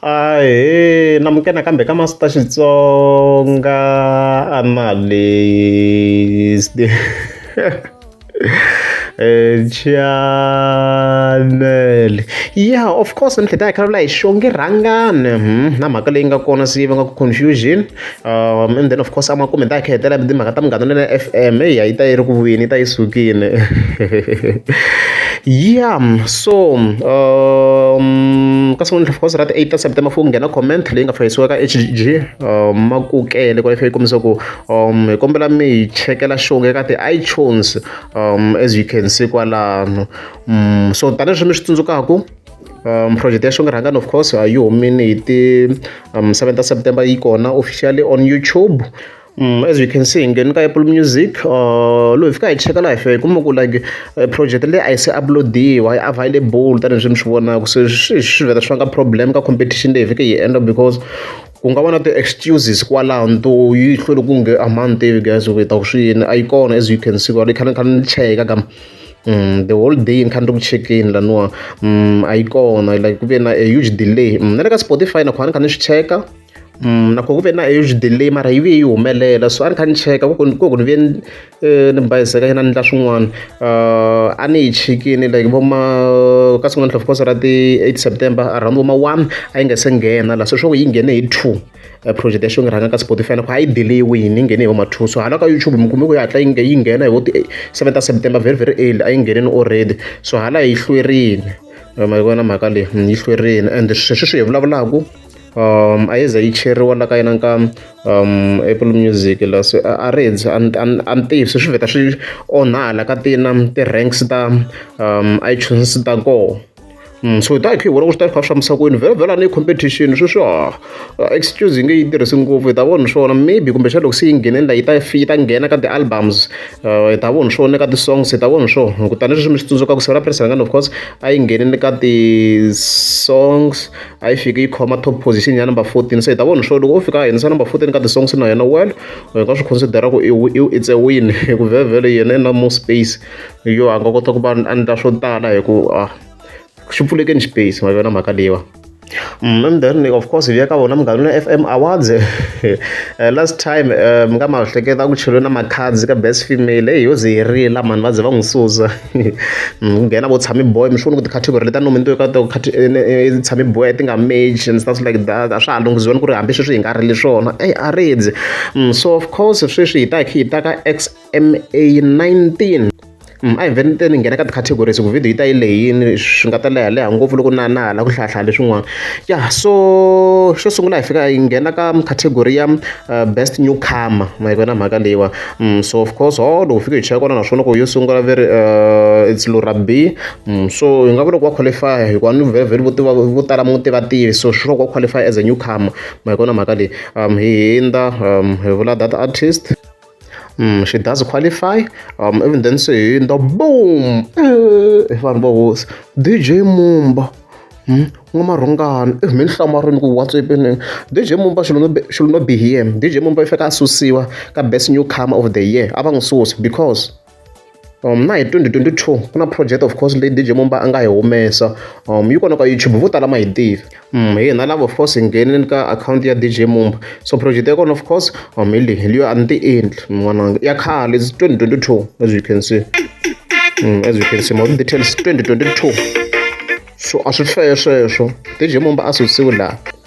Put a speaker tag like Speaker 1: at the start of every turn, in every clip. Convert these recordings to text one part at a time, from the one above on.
Speaker 1: Ahee, namukela nakambe ka Master Xitsonga Analyst chanele ya of course mintlhontlho ya hi xo nge rhangani na mhaka leyi nga kona siyi vanga confusion. um and then of course a makume hi ta hi kha hi hetelela hi timhaka ta munghana lonene F_M heyi a yi ta yi ri ku vuyeni yi ta yi sukile ya so ka siku of course ra ti-eight ta September ku nghena comment leyi nga fanisiwa ka H_G Makukele ku yi kombisa ku hi kombela mi hi chekela show ka ti-iTunes as you can see kwalano so tanihileswi mi swi tsundzukaku. um project ya xongrhangani of course a yi humini hi ti um 7 ta september yi kona officially on youtube Mm, as you can see ngeni ka apple music uh, loyi fika hi cheka laha fe kuma ku like uh, project leyi a yi se uploadiwa yi available tanihileswi mi swi vonaka se swi swi vheta swi vanga problem ka competition leyi fike yi endla because ku nga va na ti-excuses kwalaho nto yi hlwele ku nge a ma ni tivi guys u ta ku swi yini a yi kona as you can see kwala yi khale ni khale ni cheka ka the whole day ni kha ni ri ku chekeni laniwa a yi kona like ku ve na a huge delay na le ka spotify nakho a ni kha ni swi cheka nakho ku ve na a huge delay mara yi ve yi humelela so a ni kha ni cheka ku ku ni ve ni bayizeka yena ni endla swin'wana a ni yi chekini like vo ma ka siku na ntlha of course ra ti-eight september around vo ma one a yi nga se nghena la se swa ku yi nghene hi two eh, project ya xonge rhanga ka spotify loko a yi delay wini yi nghene hi vamathuso hala ka youtube mi kume ku yi hatla yi nge- yi nghena hi vo ti 7 ta september very very early a yi ngheneni already so hala yi hlwerini Eh, ma yi vona mhaka leyi mm, yi hlwerini and sweswi swi hi vulavulaku um a yi ze yi cheriwa la ka yena ka um apple music la se a a ri dzi a ni- a ni- a ni tivi se swi vheta swi onhala ka tina ti-ranks ta um itunes ta kona so hi ta hi kha hi vona ku swi ta hi kha swi fambisa ku yini vhela vhela a ni competition sweswi ha excuse yi nge yi tirhisi ngopfu hi ta vona swona maybe kumbexana loko se yi nghenela yi ta yi ta nghena ka ti-albums hi ta vona swona ka ti-songs hi ta vona swo kutani leswi mi swi tsundzukaka seven rhandi rhangani of course a yi nghenile ka ti-songs a yi fiki yi khoma top position ya number fourteen se hi ta vona swo loko o fika a nghenisa number fourteen ka ti-songs na yena well hi nga swi consider-a ku i it's a win hi ku vhela vhela yena i na more space. hi yo a nga kota ku va a endla swo tala hi ku a ah, xi pfulekeni space ma yona mhaka leyiwa Mm, and then of course hi ya ka vona munghana na fm awards eh, last time eh, mi nga ma hleketa ku cheliwe na macards ka best female eyi yo ze yi rila mani va ze va n'wi susa mm, ku nghena vo tshami boy mi swi vona ku ticategory leti a nominiwe ka to eh, tshami boy ti nga mage and stuff like that a swa ha lunghiziweni ku ri hambi sweswi hi nga rili swona eyi a ridzi mm, so of course sweswi hi ta hi ta ka x MA19 mm, a hi vheni te ni nghena ka ti-categories ku video yi ta yi leyini swi nga ta leha leha ngopfu loko na na hala ku hlayahlaya leswin'wana ya so xo sungula hi fika hi nghena ka category ya uh, best newcomer ma yi vona mhaka leyiwa mm, so of course ho loko fika hi cheka kona naswona ku yo sungula very uh, it's lurabi mm, so hi nga vula ku wa qualify hikuva ni very very vo tala mu tiva tivi so swi loko wa qualify as a newcomer ma yi vona mhaka leyi um, hi hindza um, hi vula that artist Mm, she does qualify. Um, even then, say in the boom. Eh, if I'm boss, DJ Mumba. Hmm? n'wamarhongana if mi ni hlamarini ku whatsapp ni dj mumba should not be here dj mumba i faneke a susiwa ka best new comer of the year a va n'wi susi because Um, na hi 2022 ku na project of course leyi DJ Mumba a nga yi humesa um yi kona ka YouTube vo tala ma yi tivi um hi hina lava of course hi nghenile ka akhawunti ya DJ Mumba so project ya kona of course um hi leyi hi leyo a ni ti endli n'wananga ya khale 2022 as you can see um, as you can see more details 2022 so a swi hlweye sweswo DJ Mumba a susiwe laha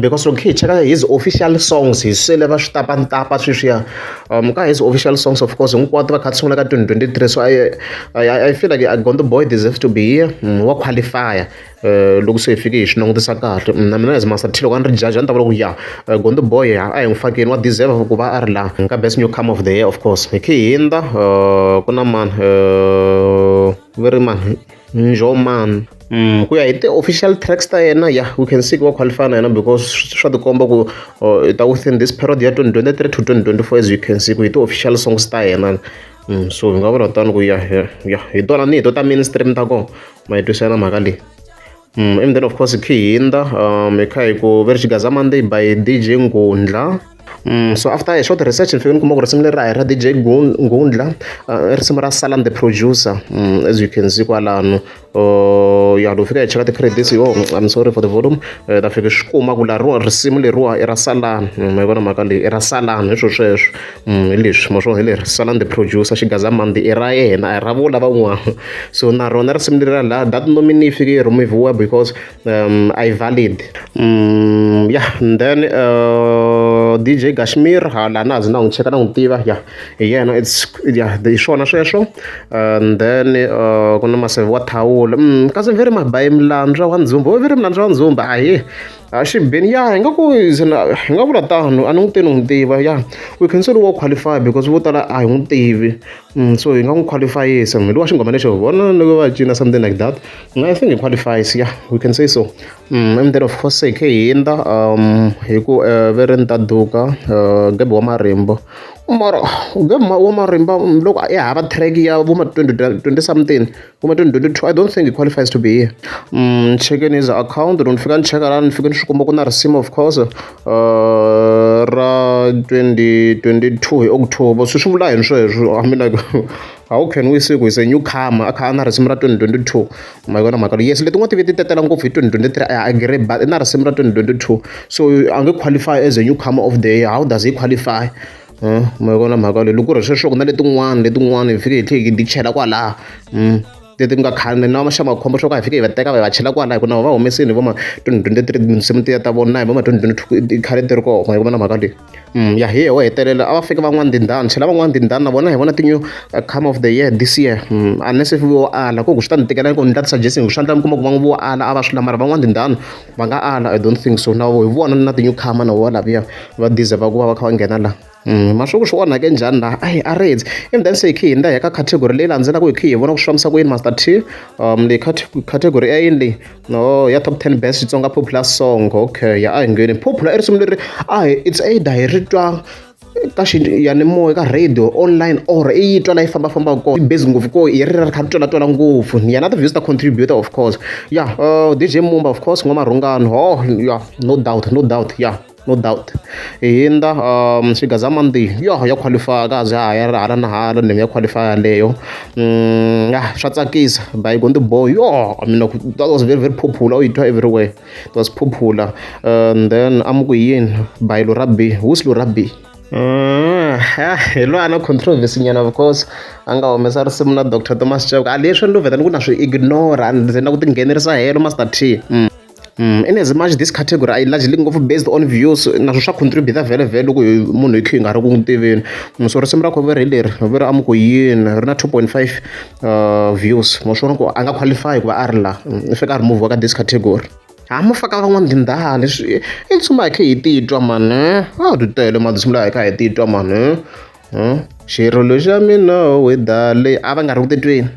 Speaker 1: Because loko hi kha hi cheka his official songs hi swele va swi tapa ni tapa sweswiya ka his official songs of course hinkwato va kha va sungula ka twenty twenty three so I feel like Gondzo boy deserves to be here wa qualify-a loko se hi fike hi swi langutisa kahle na mina as Master T loko a ni ri jaji a ni ta vula ku ya Gondzo boy a hi n'wi fakeni wa deserve ku va a ri la ka best new come of the year of course hi kha hi hindza ku na mani ve ri mani. Njomani. Mm, ku ya hi ti-official tracks ta yena ya we can see ku wa qualify na yena because swa tikomba ku uh, ta within this period ya 2023 to 2024 as you can see ku hi ti-official songs ta yena mm, so hi nga vula tani ku ya ya hi tona ni hi to ta mainstream ta kona ma yi twisela mhaka leyi mm, and then of course khihinda um hi kha hi ku ve ri xigaza monday by dj ngundla so after a short research ni fike ni kuma ku risimu leri a hi ra DJ Gundla i risimu ra Salam the producer as you can see kwalano ya loko fika hi cheka ti-credits yo I'm sorry for the volume ta fike swi kuma ku la ro risimu leriwa i ra Salam mi vona mhaka leyi i ra Salam hi swo sweswo hi leswi mo swo hi leri Salam the producer xigaza mandi i ra yena a hi ra vo lavan'wana so na rona risimu leri ra la that nominee yi fike yi rhumiviwa because um, i valid um, yeah and then uh, dj kashmir ha la na zi na n'wi cheka na n'wi tiva ya hi yena its ya hi swona sweswo and then uh, ku na maseve wa thawula um, kasi veri mabayi milandzwa wa ndzumba wo veri milandzwa wa ndzumba ahi a xi beni ya hi nga ku hi nga vula tano a ni n'wi teni n'wi tiva ya we can say wo qualify because vo tala a hi n'wi tivi So hi nga n'wi khwalifayisa munhu wa xinghoma lexo vona loko va cina something like that I think hi khwalifayisa ya we can say so instead of course hi khe hi hindza hi ku ve ri ni ta duka Gabi wa marimba mara Gabi wa marimba loko ya hava track ya vo ma twenty twenty something. kuma 2022 i don't think it qualifies to be here mm, checking his account loko ni fika ni cheka la ni fike ni swi kuma ku na risima of course uh, ra 2022 hi october swi swi vula yini sweswo i mean like how can we say ku is a new comer a kha a na risimu ra 2022 ma yona mhaka yes letin'wana ti ve ti tetela ngopfu hi 2023 i agree but i na risimu ra 2022 so a nge qualify as a new comer of the year how does he qualify mi yi vona mhaka leyi loko ku ri hi sweswo ku na letin'wana letin'wana hi fike hi tlhe hi ti chela kwalaha leti nga khale na xa makhombo swo ka hi fike hi va teka va hi va chela kwalaho hi ku na vona va humesile hi vo ma twenty twenty three tinsimu tiya ta vona na hi vo ma twenty twenty two i khale ti ri kona ma yi vona mhaka leyi ya hi yoho hetelela a va fika van'wana tindhawu ni chela van'wana tindhawu na vona hi vona ti-new come of the year this year unless if vo ala ku swi ta ni tikela ku ni nga ti-suggest-i hi ku swa endleka mi kuma ku va ngo vo ala a va swi lava mara van'wana tindhawu. va nga ala i don't think so na vo hi vona na ti-newcomer na vo laviya va deserve ku va va kha va nghena laha Mm, mashuku swi onhake njhani laha ayi a reds and then se hi khe hi nda hi ka category leyi landzelaka hi khe hi vona ku swi fambisa ku yini master t um leyi category ya yini leyi no ya top 10 best xitsonga popular song okay ya a hi ngheni popular i risimu leri a hi it's either hi ri twa ka xiyanimoya ka radio online or i yi twa la yi fambafambaka kona yi busy ngopfu ko hi ri ri kha ri twela-twela ngopfu ni yena ti-views ta contributor of course ya uh, dj mumba of course n'wamarhungano ho oh, ya no doubt no doubt ya yeah no doubt hi hindza um xigaza mandi yo ya qualify ka za ha ya hala na hala ni ya qualify leyo mm ya swa tsakisa by going to boy yo i mean that was very very popular you do everywhere It was Phuphula. And then Amukuyin by Lurabi. Who's Lurabi? Mm, ah, hi loyi a na controversy nyana of course a nga humesa risimu na dr thomas chauke a leswi ni luvhetani ku na swi ignora and ze na ku tinghenerisa helo master t mm. Mm, in as much this category i largely ngopfu based on views naswo swa contributa vhele vhele loko munhu hi khe hi nga ri ku n'wi tiveni mm, so risimu ra khoveri hi leri veri amuku yini ri na 2.5 uh, views mo swi vona ku a nga qualify ku va a ri la mm, i fika a remove ka this category ha ma faka van'wana tindhaha leswi i ntsuma hi kha hi titwa mani a ti tele madzimula hi kha hi titwa mani hmm? xirilo xa mina weda leyi a va nga ri ku titweni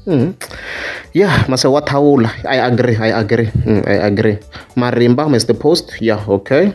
Speaker 1: hmm. ya mase wa thawula i agree i agree hmm, i agree marimba mr post ya okay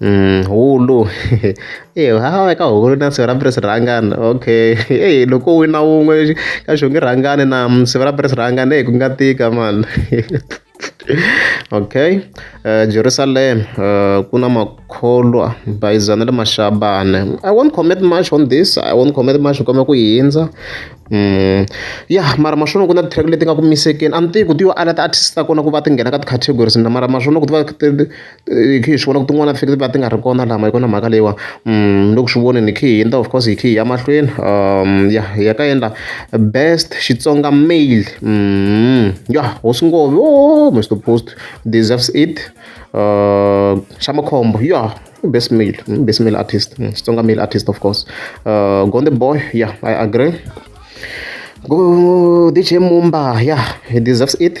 Speaker 1: Mm, hulu e ha eka hulu na siku ra mbirhi swi rhangana okay e loko u wina wun'we ka xongi rhangani na siku ra mbirhi swi rhangana e ku nga tika mani okay uh, jerusalem uh, ku na makholwa bayizana le mashabane i won't commit much on this i won't commit much ni kome ku yi hindza Mm. ya mara maswona ku na ti-track leti nga ku misekeni a ni tivi ku ti yo ala ti-artist ta kona ku va ti nghena ka ti-categories na mara maswona ku ti va ti Hi khe hi swi vona ku tin'wana ti va ti nga ri kona lama hi kona mhaka leyiwa ni le ku swi voneni hi khe hi endla of course hi khe hi ya mahlweni ya hi ya ka endla best Xitsonga male ya hosi ngo yoh Mister Post deserves it xa makhombo ya i best male i best male artist Xitsonga male artist of course Gonde boy ya I agree DJ Mumba ya he deserves it.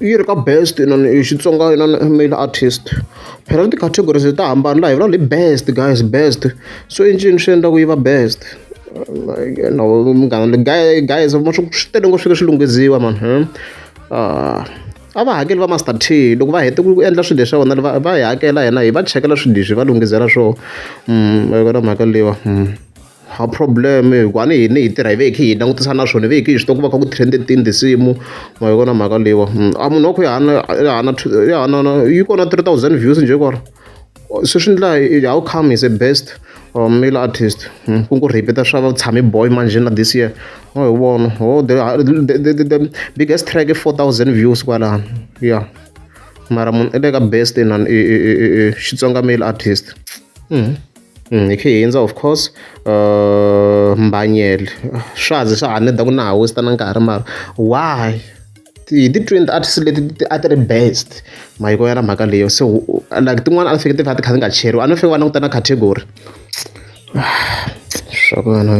Speaker 1: yi ri ka best inana i xitsonga inana male artist phela na ti-categories ta hambana laha hi vulavula hi best guys best so i ncini swi endlaku yi va best no munghana guys ma swi swi tele ngopfu swi swi lunghiziwa mani hmm? ah, a va hakeli va master t loko va hete ku endla swilo leswa vona va va hi hakela hina hi va chekela swilo leswi va lunghizela swona hmm, va yona mhaka leyiwa hmm. A problem hi ku a ni hini hi tirha hi ve hi kha hi langutisa na swona hi ve hi kha hi swi tiva ku va kha ku trend-e tini tinsimu ma yi vona mhaka leyiwa a munhu wa ku ya na ya ha na ya ha na na yi kona three thousand views njhe kwala se swi endla how come is a best or male artist ku ngo repeat-a swa va tshami boy manjhe na this year wa hi vona ho the biggest track i four thousand views kwalano ya mara munhu i le ka best inani i i i i Xitsonga male artist. Mm, ikhe hindza of course uh, mbanyele swa ze swa haneda ku na ha wista na nkarhi mara why hi ti-twin arts leti a ti ri best mahiko ya na mhaka leyo so like tin'wana a ti fike ti va ti kha ti nga cheriwa a ni fike va languta na category swa ku vana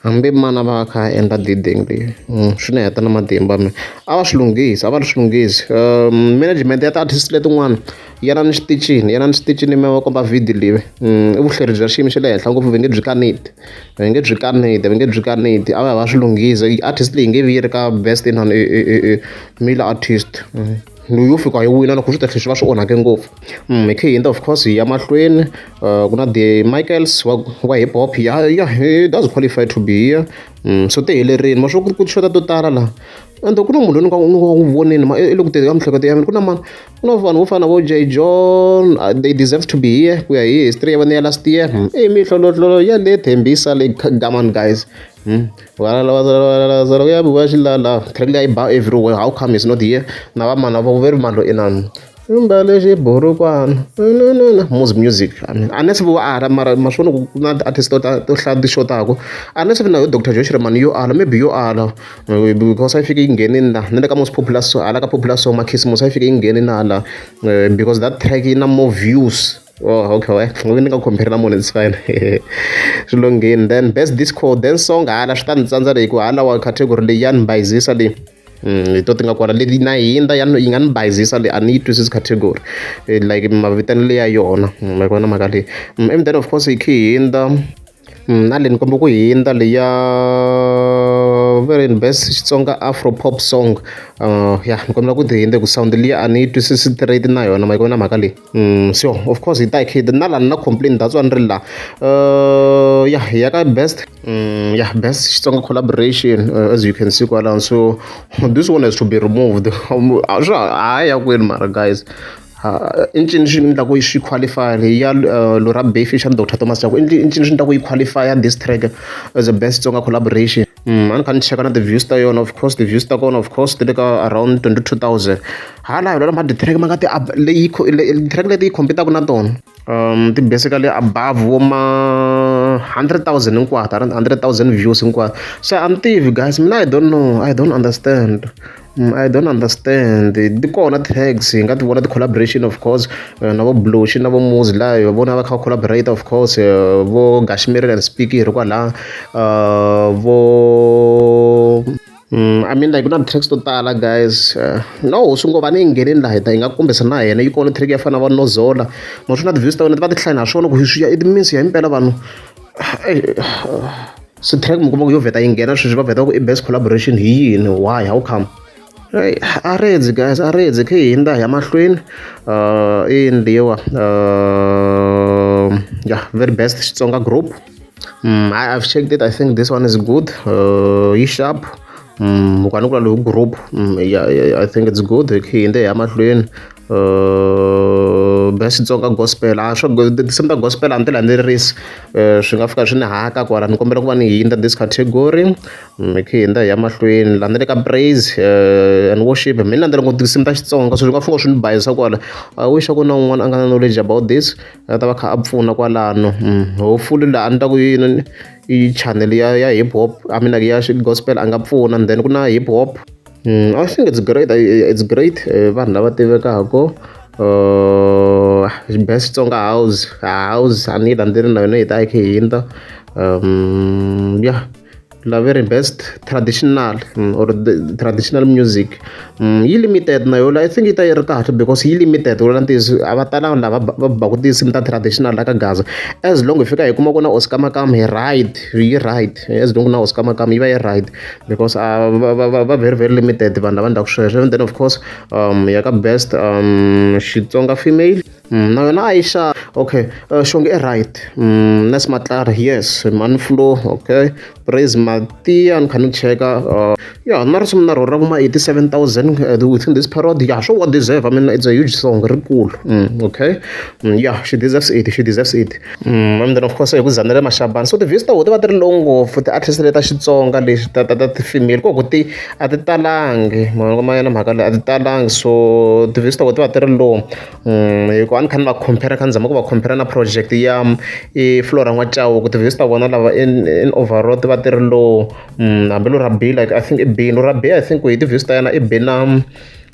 Speaker 1: hambi mana va kha a endla diding leyi mm, swi ni heta na matimba mina a va swi lunghisi a va ri swi lunghisi um management ya ti-artist letin'wana yanani switichini yanani switichini mi va komba video leyi i vuhleri bya xiyimo xa le henhla ngopfu va nge byi kaneti va nge byi kaneti va nge byi kaneti a va ya va swi lunghisa i artist leyi nge vi yi ri ka best in male artist loyi yo fika yi wina loko swi ta tlhe swi va swi onhake ngopfu hi khe hi endla of course hi ya mahlweni ku na the michaels wa wa hip hop ya ya he does qualify to be here so ti helerile ma swo ku ri ku xota to tala laha ende ku na munhu loyi ni nga ni nga n'wi vonile ma i le ku tirheni ka miehleketo ya mina ku na mani ku na vanhu vo fana vo j john uh, they deserve to be here ku ya hi history ya vona ya last year hmm. i mihlolohlolo ya le thembisa le gaman guys hmm. valalaku ya biwa xilala track leyi ba everywhere how come is not here na vamana va veri mani lo inani imbale xiburukwana mos music unless vo ala mara maswona ku na ti-artist to hlaya ti-show tako unless vi na yo doctor josh remani yo ala maybe yo ala because a yi fike yi nghenini laha na le ka most popular so hala ka popular song makhisimusi a yi fike yi nghenini laha laha eh, because that track yi na more views oh okay we ngovi ni nga compare na munhu it's fine swi longheni then best disco then song hala swi ta ni tsandza leyi ku hala wa category leyi ya ni bayizisa leyi Mm, hi to ti nga kona leti na hindza ya yi nga ni bayizisa leyi a ni yi twisisi category eh, like mavitani leya yona mm, ma yi kona mhaka leyi mm, and then of course hi khi hindza Mm, a ni kombe ku hindza leya very best xitsonga afro pop song uh, ya ni kombela ku ti hindze ku sound liya a ni yi twisisi straight na yona ma yi kona mhaka leyi mm, so of course hi ta hi khida na lani na complain that's why ni ri la uh, ya hi ya ka best mm, ya best xitsonga collaboration uh, as you can see kwalano so this one has to be removed a swa ha ya kwini mara guys I ncini lexi ni endlaku yi xi qualify-a leyi ya Lora Befi xa Doctor Thomas Chauke i i ncini lexi ni endlaku yi qualify-a this track as a best Tsonga collaboration a ni kha ni cheka na ti-views ta yona of course ti-views ta kona of course ti le ka around twenty two thousand hala hi mara ti-track ma nga ti leyi ti-track leti yi compete-aka na tona ti basically above vo ma hundred thousand hinkwato hundred thousand views hinkwato se a ni tivi guys mina I don't know I don't understand. I don't understand ti kona tags hi nga ti vona ti-collaboration of course eh, na vo bloshi na vo muzi laha va vona va kha va collaborate of course eh, vo gashimirile and speak hi ri kwalaha eh, vo Mm, I mean like ku na tracks to tala guys uh, no swi ngo va ni yi ngheneni laha hi nga kombisa na yena yi kona track ya fana va nozola ma swi na ti-views ta wena ti va ti hlaya na swona ku swi ya it means ya impela vanhu swi track mi kuma ku yo vheta yi nghena sweswi va vheta ku i best collaboration hi yini why how come Hey, aredzi guys aredzi khe hi hindza ya mahlweni uh, i ndiwa uh, yeah very best xitsonga group mm, I, i've checked it i think this one is good uh, yi sharp mm, ukwanikula lowu group mm, yeah, yeah, i think it's good khe hi hindza ya mahlweni bya Xitsonga gospel a swo tinsimu ta gospel a ni ti landzelerisi swi nga fika swi ni haka kwala ni kombela ku va ni hindza this category mi khe hindza hi ya mahlweni la ni le ka praise and worship mi ni landzela ngo tinsimu ta Xitsonga so swi nga fika swi ni bayizisa kwala I wish ku na un'wana a nga na knowledge about this a ta va kha a pfuna kwalano hopefully laha a ni ta ku yi yi channel ya ya hip hop I mean ya gospel a nga pfuna and then ku na hip hop. Mm, I think it's great. It's great. Eh, vanhu lava tivekaka uh, best Tsonga house house a ni yi landzeli na yona yi ta yi khe hindza um yeah la very best traditional mm, or the traditional music mm, yi limited na yola i think yi ta yi ri kahle because yi limited wona ntiyiso a va talanga lava va baku tinsimu ta traditional la ka gaza as long hi fika hi kuma ku na oscar makam hi right yi right as long na oscar makam yi va yi right because a va va va va very very limited vanhu lava endlaka sweswo and then of course um ya ka best um xitsonga female mm, na yona a yi xa okay uh, xonge i right mm, nes matlari yes manflo okay praise matia ni kha ni cheka uh, ya na risimu na rona ra kuma 87000 uh, within this period ya sure what deserve i mean it's a huge song rikulu mm, okay mm, ya she deserves it she deserves it and then of course hi ku za na le mashabeni so ti-views ta koho ti va ti ri low ngopfu ti-artist leti ta Xitsonga leti ta ta ta ti-female ku ku ti a ti talangi ma yona mhaka leyi a ti talangi so ti-views ta koho ti va ti ri low hi ku a ni kha ni va compare ni kha ni zama ku va compare na project ya i Flora N'wa-Chauke ti-views ta vona lava in in overall ti va ti ri low hambi Lurabiyi like I think i bini Lurabiyi I think ku yi ti-views ta yena i bi na.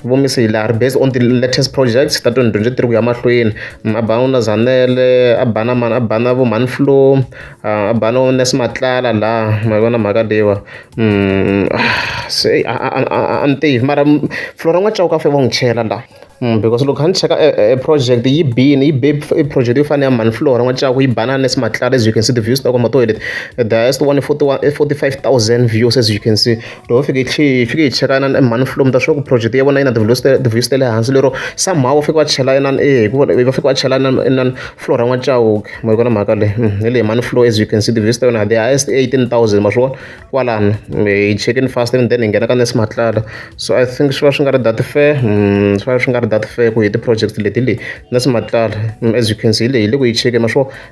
Speaker 1: Vumisi hi laha ri based on the latest projects ta twenty twenty three ku ya mahlweni a ba na Zanele a ba na mani a ba na vo mhani Flow a ba na vo Nurse Matlala laha ma yi vona mhaka leyiwa se a ni tivi mara Flow ra n'wana Chauke a fanele va n'wi chela laha because loko kha ni cheka e project yi bile yi be i project yo fana na ya mhani Flow ra n'wana Chauke yi ba na Nurse Matlala as you can see the views ta kona hi tona leti the highest one i forty one i forty five thousand views as you can see. loko va fike hi hi fike hi chekana na mhani flow mi ta swi tiva ku project ya vona yi na ti-views ta ti-views ta le hansi lero somehow va fike va chela inana e hikuva va fike va chela inana inana flow ra n'wachauke ma yi vona mhaka leyi hi leyi mhani flow as you can see ti-views ta yona the highest eighteen thousand ma swi vona kwalano hi chekini fast and then hi nghena ka nurse matlala so i think swi va swi nga ri that fair swi va swi nga ri that fair ku hi ti-project leti le nurse matlala as you can see hi leyi hi le ku yi chekeni ma swi vona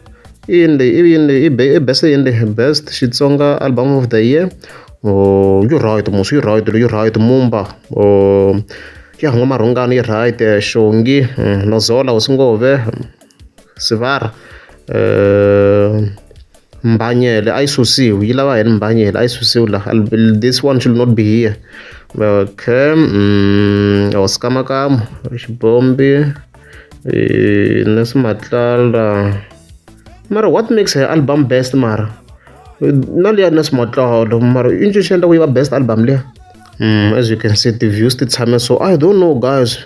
Speaker 1: i yini leyi i yini leyi i best yini leyi best xitsonga album of the year or you right musi you right you right mumba or ya huma marhungani yi right xongi mm, nozola usingove sivara eh, mbanyele a yi susiwi yi lava yini mbanyele a yi susiwi la this one should not be here okay mm, or oh, skamakamo xibombi eh, Nelson Matlala mara what makes her album best mara na liya Nelson Matlala mara i nchuxi endla ku yi va best album liya mm, as you can see the views ti tshame so i don't know guys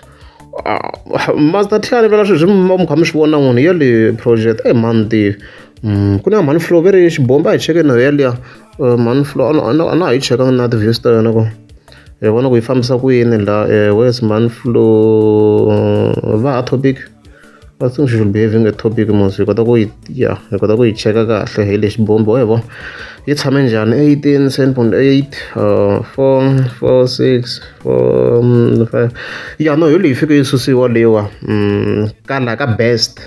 Speaker 1: ah, master tlhela ni vela sweswi mi kha mi swi vona n'wini ya le project eyi mani tivi Mm, ku na mhani flow ve ri xibomba hi cheke nayo yaliya eh, mhani flow a na ha yi chekanga na ti-views ta yona ko hi vona ku yi fambisa ku yini la eh, where's man flo va ha topic I think she should be having a topic mos hi kota ku yi ya hi kota ku yi cheka kahle hi lexi bombo hi vo yi tshame njhani 18 seven point eight uh, four four six four mm, five ya no hi leyi fike yi susiwa leyiwa mm, ka la ka best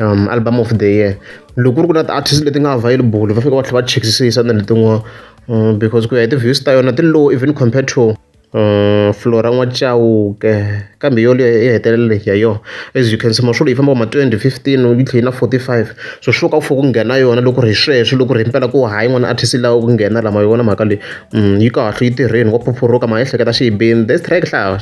Speaker 1: um album of the year loko ku ri ku na ti-artist leti nga available va fika va tlhela va chekisisa na letin'wana mm, because ku ya hi ti-views ta yona ti low even compared to um flora n'wachauke kambe yo leyo yi hetelele ya yona as you can see maswolo yi famba ma 2015 yi tlhela yi na 45 so swo ka ku fo ku nghena yona loko ri hi sweswo loko ri hi mpela ku hayi n'wana artist lawa ku nghena lama yi vona mhaka leyi mm, yi kahle yi tirheni wa phuphuruka ma ehleketa xiyibeni this track hlawa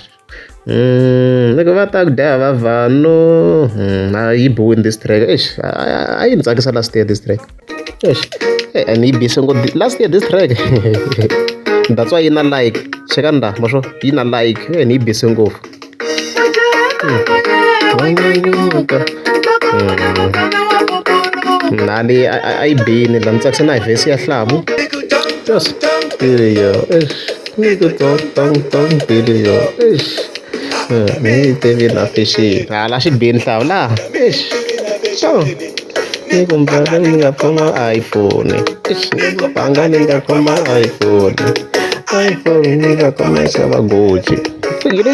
Speaker 1: Mm, loko va ta ku dya va vanhu mm, a yi biwini this track eish a yi ni tsakisa last year this track eish eh, and yi bise ngo last year this track that's why yi na like cheka nda masho yi na like eh, and yi bise ngopfu nani mm. a yi bini la ni tsakisa na hi vhesi ya hlavu yes period eish Ni ku tong tong tong bili yo eish ni yi tivi na fexeni hala xi beni hlawula eish so ni ku mbanga ni nga kuma a yi pfuni eish ni ku banga ni nga kuma a yi pfuni a yi pfuni ni nga kuma yi xava goji yini.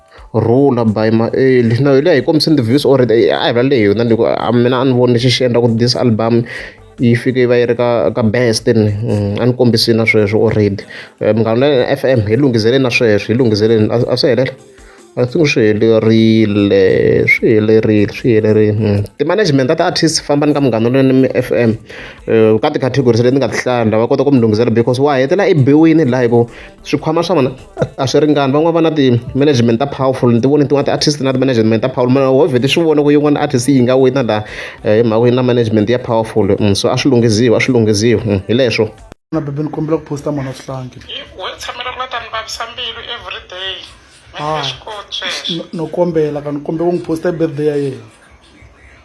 Speaker 1: Rhula by Maeli na hi leyi hi kombisini ti-views or a hi va leyi yona ni ku a mina a ni voni lexi xi endla ku this album yi fike yi va yi ri ka ka best ni mm, a ni kombisini na sweswo already eh, munghana na f m hi lunghizeleni na sweswo hi lunghizeleni a swi helela I think swi helerile swi helerile swi helerile mm. ti-management ta ti-artist fambani ka munghana lweni mi f m eh, ka ti-categories leti ni nga ti hlaya lava kota ku mi lunghisela because wa hetela ebiwini laha hi ku swikhwama swa vona a swi ringani van'wana va na ti-management ta powerful ni ti voni tin'wana ti-artist na ti-management ta powerful mana hove ti swi vona ku yin'wana artist yi nga wina la eh, hi mhaka yi na management ya powerful mm, so a swi lunghiziwi a swi lunghiziwi mm, hi leswo na bebe ni kombela
Speaker 2: ku posta mona swihlangi wo tshamela ku
Speaker 3: nga ta ni vavisa mbilu everyday ah,
Speaker 2: no kombela ka ni kombela ku n'wi posta hi birthday ya yena